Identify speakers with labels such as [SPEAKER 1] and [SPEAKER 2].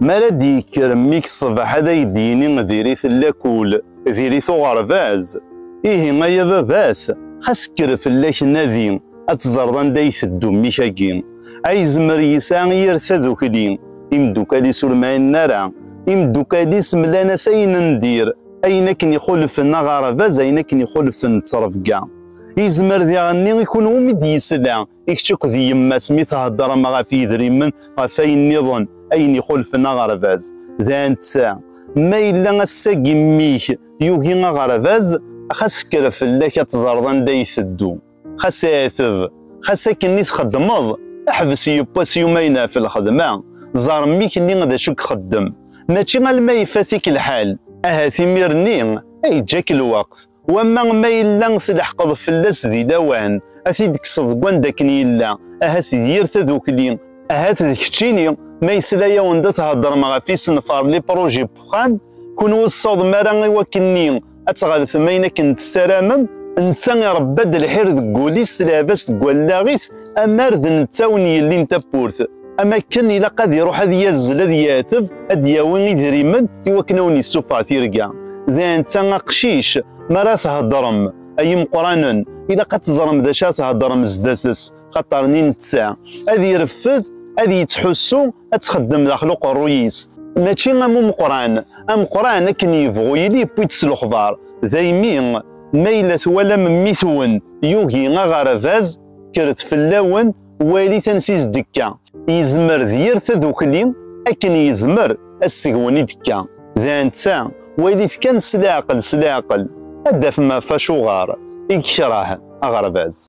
[SPEAKER 1] Mi ara d-yekker mmi-k ṣṣbeḥ ad ak-d-yini diri-t lakul, diri-t uɣerbaz. Ihi ay ababat, xas kker fell-ak nadi, ad teẓreḍ anda ay iteddu mmi-k-agi. Ayezmer yesɛa yir tadukli, imeddukal-is ur mɛinen ara. Imeddukal-is mlan-as ayen n dir, ayen akken ixulfen aɣerbaz, ayen akken ixulfen ttrebga. Yezmer diɣenni i kenwi umi d-yesla, i kečč akked yemma-s mi theddṛem ama ɣef yidrimen ɣef ayen nniḍen ayen ixulfen aɣerbaz d anta ma yella ass-agi mmi-k yugi aɣerbaz xas kker fell-ak ad teẓreḍ anda ay teddu xas ɛeteb xas akken i txeddmeḍ ḥbes yewwas yumayen ɣef lxedma ẓer mmi-k nni d acu ixeddem mačči alma ifat-ik lḥal ahat imir-nni ay yeǧǧa-k lweqt Wamma ma yella tleḥqeḍ fell-as di lawan, a t-id-kkseḍ deg wanda akken yella, ahat d yir tadukli, ahat d keččini, ma yesla-awen-d a theddṛem ɣef isenfar, les projets, n uxxam, kunwi ur tessawḍem ara i wakken-nni ad tɣelltem ayen akken tessaramem, netta iṛebba-d lḥir deg wul-is, tleɛɛeb-as deg wallaɣ-is, amar d netta wen-yellin tawwurt. am akken ilaq ad iruḥ ad yazzel ad yateb ad yawi idrimen i wakken awen yessufeɣ tirga d anta aqcic mi ara theddrem ay imeqranen ilaq ad teẓrem d acu ara theddrem sdat-s xaṭer ni netta ad ireffed ad yettḥussu ad txeddem daxel uqerruy-is mačči am umeqran ameqran akken yebɣu yili yewwi-d s lexbar daymi ma yella twalam mmi-twen yugi aɣerbaz kkret fell-awen walit ansi s-d-ekka. Yezmer d yir tadukli akken yezmer assegwen i d-ekka. D anta, walit kan s leɛqel s leɛqel, ad d-afem ɣef acuɣer i yekreh aɣerbaz.